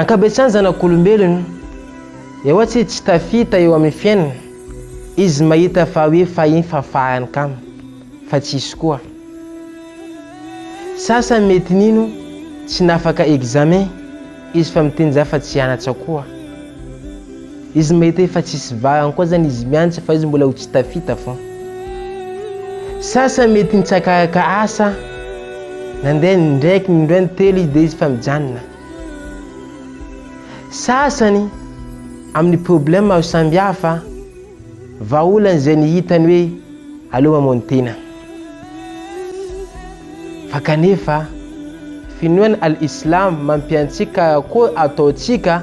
Ankabetsahan'ny zanak'olombelona, eoatsy tsy tafita eo amin'ny fiainana, izy mahita fa hoe fahiny fafahany kamo, fa tsisy koa. Sasany mety nino tsy nafaka examen izy fa miteny za fa tsy hianatsa koa. Izy mety efa tsisy vahany koa zany izy miantsa fa izy mbola ho tsy tafita fô. Sasany mety nitsaka araka asa, nandeha ny ndraiky ny indray ny telo izy dia izy fa mijanona. Sasany amin'ny problème maro samihafa, vahaolana izay ny hitany hoe aleo mamono tena. Fa kanefa finoana al-Islam mampiantsika karakory ataontsika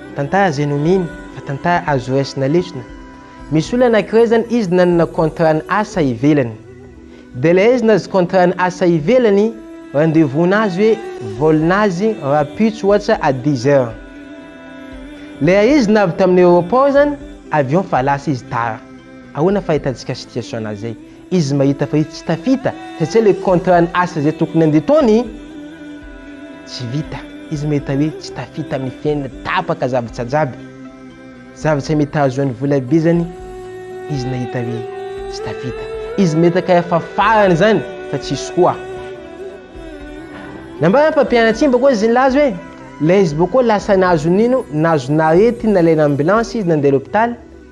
Tantara zay no mino fa tantara azo raisina lesona, misy olona anakiray zany izy nanana contrat ny asa ivelany de le izy nazy contrat ny asa ivelany rendez-vous nazy hoe vol nazy rapitso ohatsa à dix heure le izy navy taminy aeroport zany avion fa lasa izy tara, ahoana fahitantsika situation nazy zay? Izy mahita fa izy tsy tafita satria le contrat ny asa izay tokony handeha ataony tsy vita. Izy mahita hoe tsy tafita amin'ny fiainany, tapaka zavatra jiaby. Zavatra mety hahazoany vola be zany izy nahita hoe tsy tafita. Izy mahita kay fa farany zany fa tsisy koa. Nambaran'ny mpampianatra iny bakao izy nilaza hoe ilay izy bakao lasa nahazo nino, nahazo naretina nalaina ambulance izy nandeha l'hôpital.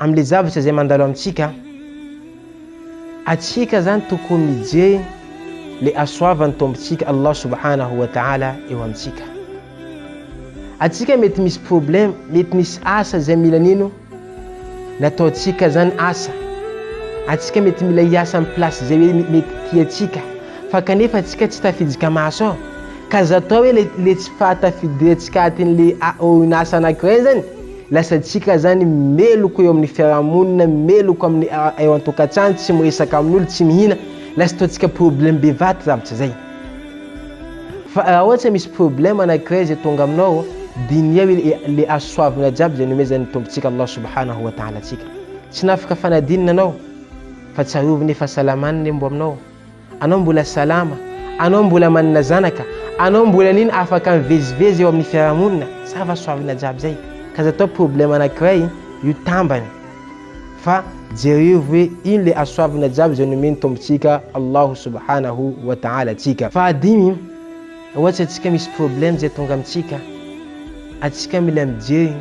Amin'ilay zavatra izay mandalo amintsika, atsika zany tokony mijery le hasoavan'ny Tompontsika Allah Subhanahu wa Ta'ala eo amintsika. Atsika mety misy problème, mety misy asa izay mila nino nataontsika zany asa. Atsika mety mila hiasa amin'ny place izay hoe mety tiantsika, fa kanefa atsika tsy tafidika maso ao. Ka aza atao hoe le, le tsy fahatafidirantsika atin'le a, orinasa anankiray zany, Lasantsika zany meloka eo amin'ny fiarahamonina, meloka amin'ny eo an-tokantrano, tsy miresaka amin'olo, tsy mihina, lasa ataontsika problème bevaty zavatra zay. Fa raha ohatra misy problème anankiray zay tonga aminao, diniho le azo soavina jiaby zay nomezan'ny Tompontsika Allah Subhanahu wa Ta'ala antsika. Tsy nafaka fanadinana anao, fa tsarovy ny fahasalamany le mbo aminao. Anao mbola salama? Anao mbola manana zanaka? Anao mbola an'iny afaka mivezivezy eo amin'ny fiarahamonina? Sava soavina jiaby zay. Ka aza atao problème anankiray io tambany. Fa jereo hoe ino le hasoavina jiaby izay nomen'ny Tompontsika Allahu Subhanahu wa Ta'ala antsika. Fahadimy, Ohatsy antsika misy problème zay tonga amintsika, antsika mila mijery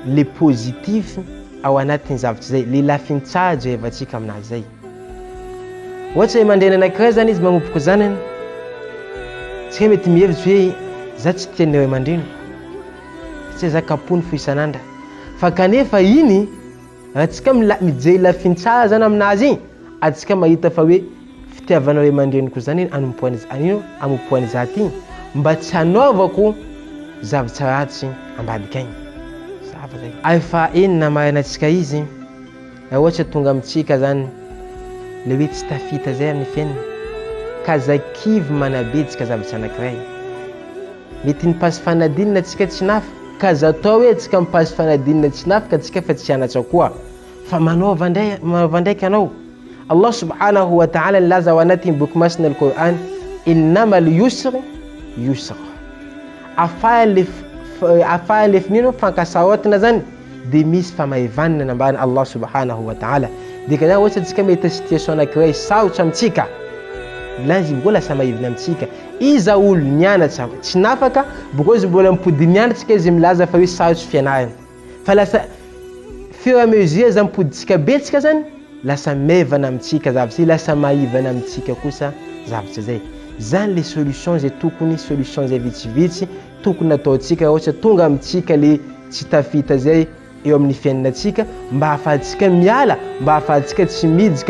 le positif ao anatin'ny zavatra zay, le lafiny tsara jerevantsika aminazy zay. Ohatra hoe mandre ny anankiray zany izy magnopoka zanany, tsy hoe mety mihevitsy hoe za tsy tian'ny ray aman-dreny, satria za kapohiny fo isan'andra. Fa kanefa iny, raha tsika mila- mijery lafiny tsara zany aminazy iny, atsika mahita fa hoe fitiavana ray aman-dreniko zany iny anompoany za- an'ino? Amompoany za ty mba tsy hanaovako zavatra ratsy ambadika agny. Zava zay. Ary fahaenina, maraina tsika izy. Raha ohatra tonga amintsika zany le hoe tsy tafita zay amin'ny fiainana ka zay kivy manabedika zavatra anakiray mety ny passe fanadinana tsika tsy nafy ka za atao hoe tsika mi passe fanadinana tsy nafy ka tsika fa tsy anatra koa fa manaova ndray manaova ndraiky anao Allah subhanahu wa ta'ala nilaza ao anatin'ny boky masina al Qur'an innama al yusr yusra afaha le afaha le finino fankasarotina zany dia misy famahivanina nambaran'i Allah subhanahu wa ta'ala. Dikan'izany ohatra antsika mahita situation anankiray sarotra amintsika, ilay izy mbola samahivina amintsika. Iza olo nianatra tsy nafaka, bokao izy mbola mipody mianatra izy milaza fa hoe sarotra fianarana. Fa lasa fur et à mesure zany mipodintsika betsika zany, lasa maivana amintsika zavatra zay, lasa maivana amintsika kosa zavatra zay. Zany le solution zay tokony, solution zay vitsivitsy tokony ataontsika rehetra tonga amintsika le tsy tafita zay eo amin'ny fiainanantsika mba ahafahantsika miala mba ahafahantsika tsy midika